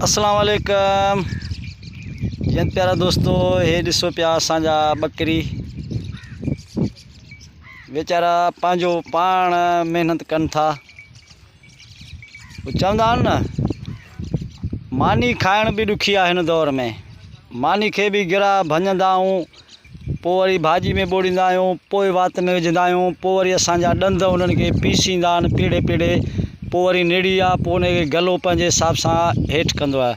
اسلام عليڪم جيت پيارا دوستو هي ڏسو پيا اسان جا ٻڪري ويچارا پنهنجو پاڻ محنت ڪن ٿا چوندا آهن نه ماني کائڻ به ڏکي آهي هن دور ۾ ماني کي به گرا ڀڃندا آهيون پوء وري ڀاڄي ۾ ٻوڙيندا آهيون پوء وات ۾ وجهندا آهيون پوء وري اسان جا ڏند انهن کي پيسيندا آهن پيڙهي پيڙهي پوء وري نڙي آهي پوء ان کي گلو پنهنجي حساب سان هيٺ ڪندو آهي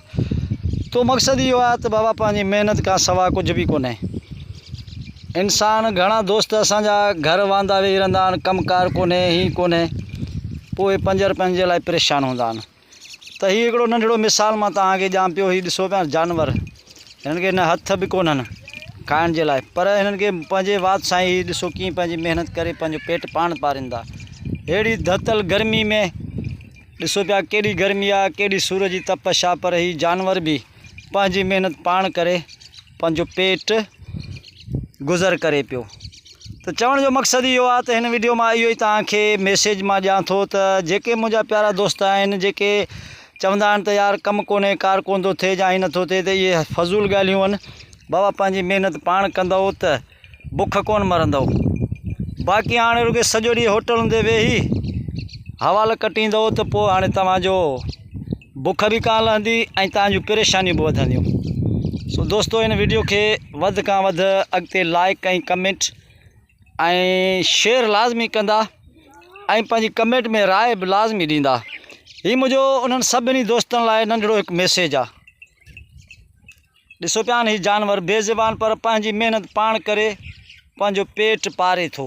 تو مقصد اهو آهي ته بابا پنهنجي محنت کان سوا ڪجهه به ڪونهي انسان گهڻا دوست اسان جا گهر واندا ويهي رهندا آهن ڪم ڪار ڪونهي هي ڪونهي پوء پنج رپين جي لاء پريشان هوندا آهن ته هي هڪڙو ننڍڙو مثال مان توهان کي ڄان پيو هي ڏسو پيا جانور هنن کي نه هٿ به ڪونهن کائڻ جي لاء پر هنن کي پنهنجي وات سائين هي ڏسو ڪيئن پنهنجي محنت ڪري پنهنجو پيٽ پاڻ پارين ٿا اهڙي ڌتل گرمي ۾ ڏسو پيا ڪيڏي گرمي آ ڪيڏي سور جي تپش آ پر هي جانور به پنهنجي محنت پاڻ ڪري پنهنجو پيٽ گذر ڪري پيو ته چوڻ جو مقصد اهو آهي ته هن ويڊيو مان اهو ئي توهان کي ميسيج مان ڏيان ٿو ته جيڪي منهنجا پيارا دوست آهن جيڪي چوندا آهن ته يار ڪم ڪونهي ڪار ڪونه ٿو ٿئي جا هي نٿو ٿئي ته اهي فضول ڳالهيون آهن بابا پنهنجي محنت پاڻ ڪندو ته بک ڪونه مرندؤ، باقي هاڻي رڳي سڄو ڏينهن هوٽلن تي ويهي حوال ڪٽيندؤ ته پوء هاڻي توهان جو بک به ڪانه لهندي ۽ توهان جون پريشانيون به وڌنديون سو دوستو هن ويڊيو کي وڌ کان وڌ اڳتي لائق ۽ ڪمينٽ ۽ شيئر لازمي ڪندا ۽ پنهنجي ڪمينٽ ۾ راء به لازمي ڏيندا هي منهنجو انهن سڀني دوستن لاء ننڍڙو هڪ ميسيج آ ڏسو پيا هي جانور بي زبان پر پنهنجي محنت پاڻ ڪري پنهنجو پيٽ پاري ٿو